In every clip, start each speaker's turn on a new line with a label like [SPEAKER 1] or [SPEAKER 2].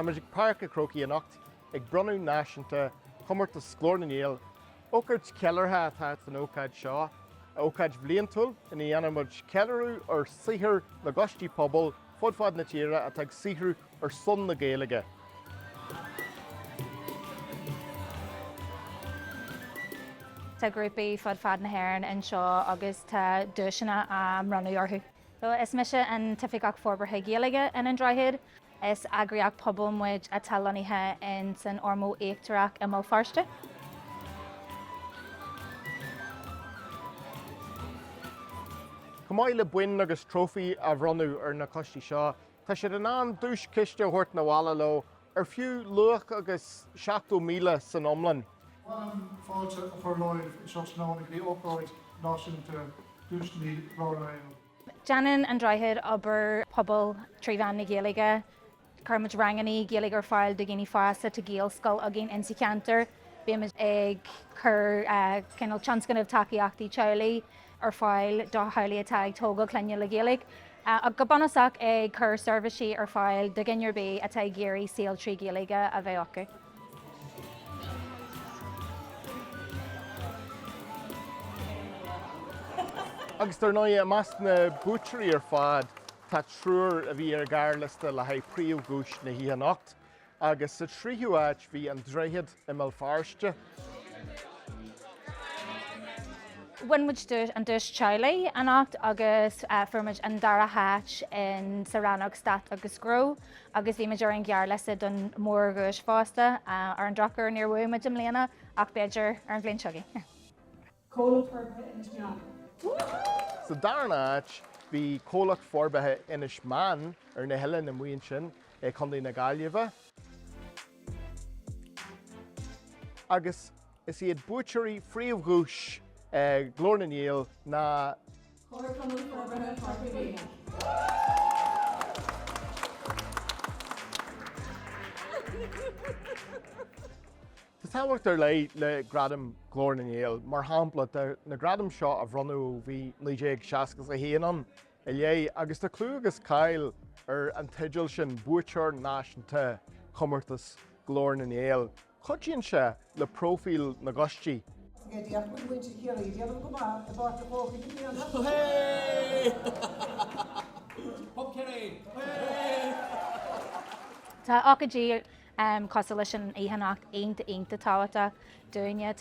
[SPEAKER 1] Tá muid ag Páirc a' Chrócaigh anocht ag bronnadh náisiúnta chomórtas Ghlór na nGael. Ócáid cheiliúrtha atá san ócáid seo, ócáid bhliantúil ina dhéanann muid ceiliúradh ar saothar na gcoistí pobail fud fad na tíre atá ag saothrú ar son na Gaeilge.
[SPEAKER 2] Tá grúpaí fud fad na hÉireann anseo agus tá duaiseanna á mbronnadh orthu. So, is mise an tOifigeach Forbartha Gaeilge in An Droichead. Is eagraíocht pobail muid atá lonnaithe in san Ormeau Íochtarach i mBéal Feirste.
[SPEAKER 1] Chomh maith le boinn agus trófaí a bhronnadh ar na coistí seo, Tá siad in ann duaischiste a thabhairt 'na bhaile leo ar fiú luach agus 70,000 san iomlán. Ba mhaith liom fáilte a chur romhaibh anseo tráthnóna go
[SPEAKER 3] dtí Ócáid Náisiúnta Duaiseanna Ghlór na nGael. Déanann
[SPEAKER 2] An Droichead obair pobail trí mheán na Gaeilge. Cuireann muid rangannaí Gaeilge ar fáil do dhaoine fásta, tá Gaelscoil againn insa cheantar, bímid ag cur cineál tionscnamh tacaíochtaí teaghlaigh, ar fáil do theaghlaigh atá ag tógáil clainne le Gaeilge, ach go bunúsach ag cur seirbhísí ar fáil do dhuine ar bith atá ag iarraidh saol trí Ghaeilge a bheith acu.
[SPEAKER 1] Agus dar ndóigh, i measc na buaiteoirí ar fad, tá triúr a bhí ar an ghearrliosta le haghaidh príomhdhuais na hoíche anocht, Agus sa tríú áit bhí An Droichead i mBéal
[SPEAKER 2] Feirste. Bhain muid an duais teaghlaigh anocht agus fuair muid an dara háit insa rannóg Stát agus Gnó agus bhí muid ar an ghearrliosta don mórdhuais fosta. Ar an drochuair níor bhuaigh muid i mbliana ach b'fhéidir ar an bhliain seo chugainn.
[SPEAKER 1] Comhlacht Forbartha Inis Meáin. Sa darna áit, bhí Comhlacht Forbartha Inis Meáin ar na hoileáin amuigh ansin i Co. na Gaillimhe, agus is iad buaiteoirí phríomhdhuais Ghlór na nGael ná. Comharchumann Forbartha Chorca Dhuibhne. Tá tábhacht ar leith le Gradam Ghlór na nGael, mar shampla, tá na gradaim seo á mbronnadh ó bhí 1961 ann i leith agus tá clú agus cáil ar an teideal sin, buaiteoir náisiúnta Chomórtas Ghlór na nGael. Cuidíonn sé le próifíl na gcoistí. Go deimhin, bhí muintir Chiarraí ag déanamh go maith i bPáirc an
[SPEAKER 2] Chrócaigh i mbliana! Hooray! Hooray! Hooray! Tá ócáidí cosúil leis an oíche anocht iontach iontach tábhachtach dúinne.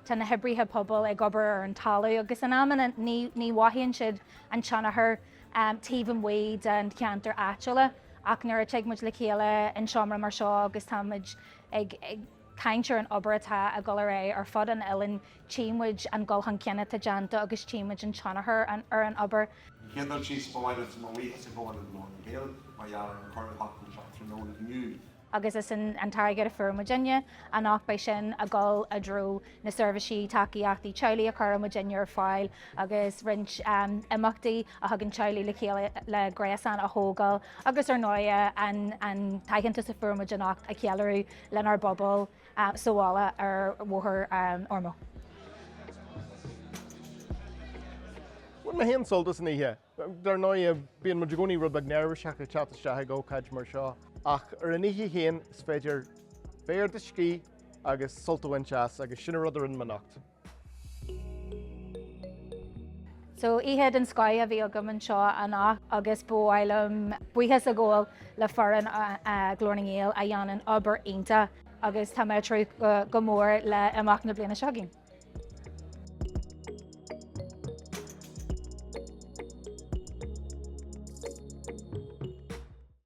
[SPEAKER 2] Tá na hoibrithe pobail ag obair ar an talamh agus in amanna ní mhothaíonn siad an tionchar taobh amuigh dá gceantair áitiúla ach nuair a tig muid le chéile in seomra mar seo agus tá muid ag caint ar an obair atá ag dul ar aghaidh ar fud an oileáin, tchí muid an dul chun cinn atá déanta agus tchí muid an tionchar ar an obair. An chéad dul síos, ba mhaith liom mo bhuíochas a ghabháil le Glór na nGael
[SPEAKER 4] mar gheall ar an cur i láthair seo tráthnóna inniu. agus is an
[SPEAKER 2] t-airgead a fuair muidinne anocht, beidh sin ag dul i dtreo na seirbhísí tacaíochtaí teaghlaigh a chuireann muidinne ar fáil agus roinnt imeachtaí a thugann teaghlaigh le chéile le gréasán a thógáil agus ar ndóighe an t-aitheantas a fuair muid anocht a cheiliúradh lenár bpobal. sa bhaile ar Bhóthar an
[SPEAKER 1] Ormeau. Bhain mé féin sult as an oíche. Dar ndóigh, bíonn muid i gcónaí rud beag neirbhíseach ag teacht isteach ag ócáid mar seo, ach ar an oíche féin, is féidir féidir do scíth agus sult a bhaint as, agus sin an rud a rinne mé anocht.
[SPEAKER 2] So, oíche den scoth a bhí agam anseo anocht agus ba mhaith liom buíochas a ghabháil le foireann Ghlór na nGael a dhéanann obair iontach agus tá mé ag tnúth go mór le imeacht na bliana seo chugainn.